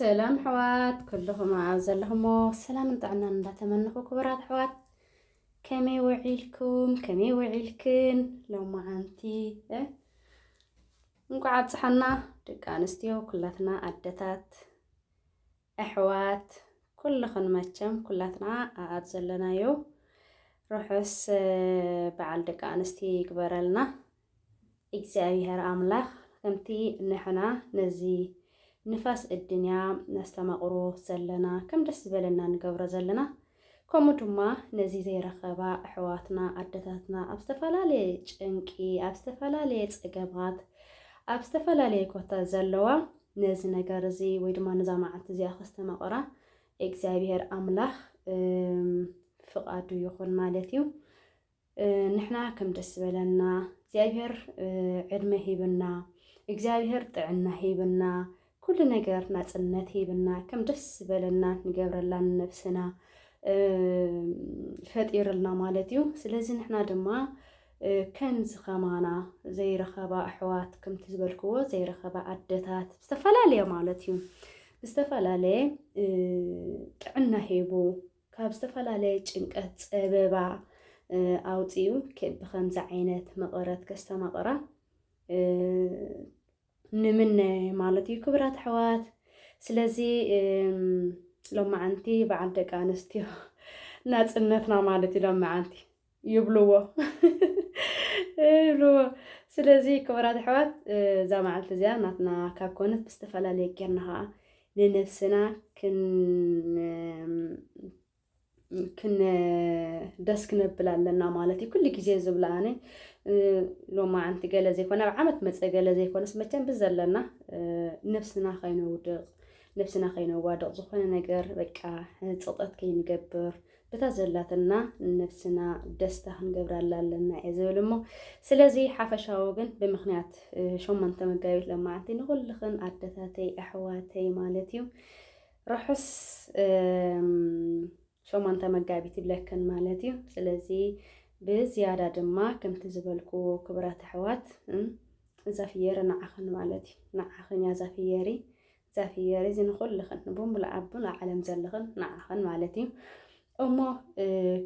ሰላም ኣሕዋት ኩልኹም ኣብ ዘለኹሞ ሰላምን ጥዕናን እንዳተመነኹ ክቡራት ኣሕዋት ከመይ ውዒልኩም ከመይ ውዒልክን ሎማዓንቲ እንኳዕ ኣብፅሐና ደቂ ኣንስትዮ ኩላትና ኣደታት ኣሕዋት ኩልኽን መቸም ኩላትና ኣብ ዘለናዮ ርሑስ በዓል ደቂ ኣንስትዮ ይግበረልና እግዚኣብሔር ኣምላክ ከምቲ ንሕና ነዚ ንፋስ እድንያ ነስተማቅሮ ዘለና ከም ደስ ዝበለና ንገብሮ ዘለና ከምኡ ድማ ነዚ ዘይረኸባ ኣሕዋትና ኣደታትና ኣብ ዝተፈላለየ ጭንቂ ኣብ ዝተፈላለየ ፀገማት ኣብ ዝተፈላለየ ኮታ ዘለዋ ነዚ ነገር እዚ ወይ ድማ ነዛ መዓልቲ እዚኣ ከስተማቕራ እግዚኣብሄር ኣምላኽ ፍቓዱ ይኹን ማለት እዩ። ንሕና ከም ደስ ዝበለና እግዚኣብሔር ዕድመ ሂብና እግዚኣብሔር ጥዕና ሂብና ኩሉ ነገር ናፅነት ሂብና ከም ደስ ዝበለና ንገብረላ ንነብስና ፈጢርልና ማለት እዩ ስለዚ ንሕና ድማ ከምዚ ከማና ዘይረኸባ ኣሕዋት ከምቲ ዝበልክዎ ዘይረኸባ ኣደታት ዝተፈላለየ ማለት እዩ ዝተፈላለየ ጥዕና ሂቡ ካብ ዝተፈላለየ ጭንቀት ፀበባ ኣውፂኡ ብከምዚ ዓይነት መቐረት ከስተማቕራ ንምነ ማለት እዩ ክብራት ኣሕዋት። ስለዚ ሎማዓንቲ በዓል ደቂ ኣንስትዮ ናፅነትና ማለት እዩ ሎማዓንቲ ይብልዎ ይብልዎ ስለዚ ክቡራት ኣሕዋት እዛ መዓልቲ እዚኣ ናትና ካብ ኮነት ብዝተፈላለየ ጌርና ከዓ ንነብስና ደስ ክነብል ኣለና ማለት እዩ ኩሉ ግዜ ዝብላ ኣነ ሎማዓንቲ ገለ ዘይኮነ ኣብ ዓመት መፀ ገለ ዘይኮነስ መቸም ብዘለና ነብስና ከይነውድቕ ነብስና ከይነዋድቕ ዝኾነ ነገር በቃ ፅቕጠት ከይንገብር በታ ዘላትና ነብስና ደስታ ክንገብራላ ኣለና እየ ዝብል እሞ ስለዚ ሓፈሻዊ ግን ብምክንያት ሸሞንተ መጋቢት ለማዓንቲ ንኩልኽን ኣደታተይ ኣሕዋተይ ማለት እዩ ርሑስ ሸሞንተ መጋቢት ይብለክን ማለት እዩ ስለዚ ብዝያዳ ድማ ከምቲ ዝበልክዎ ክብራት ኣሕዋት እዛ ፍየሪ ንዓኽን ማለት እዩ ንዓኽን እያ እዛ ፍየሪ ዛፊየር እዚ ንኹልኽን ንብምሉእ ኣቡን ዓለም ዘለኽን ንዓኽን ማለት እዩ እሞ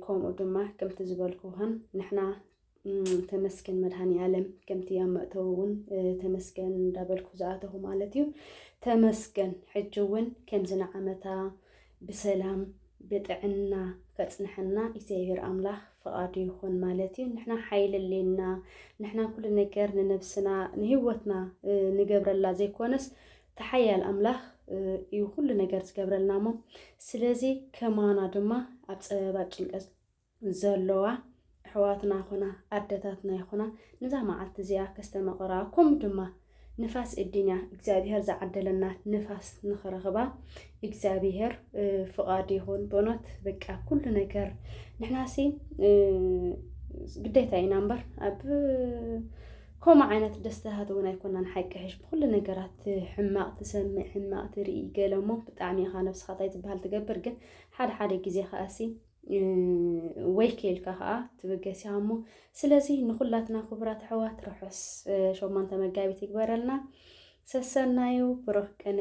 ከምኡ ድማ ከምቲ ዝበልኩኽን ንሕና ተመስገን መድሃኒ ዓለም ከምቲ ኣብ መእተዊ እውን ተመስገን እንዳበልኩ ዝኣተኹ ማለት እዩ ተመስገን ሕጂ እውን ከምዚ ንዓመታ ብሰላም ብጥዕና ከጽንሐና እግዚኣብሔር ኣምላኽ ፍቓዱ ይኹን ማለት እዩ። ንሕና ሓይሊ ኣሌና ንሕና ኩሉ ነገር ንነብስና ንህይወትና ንገብረላ ዘይኮነስ ተሓያል ኣምላኽ እዩ ኩሉ ነገር ዝገብረልና እሞ ስለዚ ከማና ድማ ኣብ ፀበባ ጭንቀት ዘሎዋ ኣሕዋትና ይኹና ኣደታትና ይኹና ንዛ መዓልቲ እዚኣ ከስተመቕራ ከምኡ ድማ ንፋስ እድንያ እግዚኣብሄር ዝዓደለና ንፋስ ንኽረኽባ እግዚኣብሄር ፍቓድ ይኹን። ብእውነት በቃ ኩሉ ነገር ንሕናሲ ግዴታ ኢና እምበር ኣብ ከምኡ ዓይነት ደስታታት እውን ኣይኮናን ሓቂ ሕሽ ብኩሉ ነገራት ሕማቕ ትሰምዕ ሕማቕ ትርኢ ገለ እሞ ብጣዕሚ ኢኻ ነብስኻ እንታይ ዝበሃል ትገብር ግን ሓደ ሓደ ግዜ ከኣሲ ወይ ከልካ ከዓ ትብገስ እያ እሞ ስለዚ ንኩላትና ክቡራት ኣሕዋት ርሑስ ሸሞንተ መጋቢት ይግበረልና። ሰሰናዩ ብሩህ ቅነ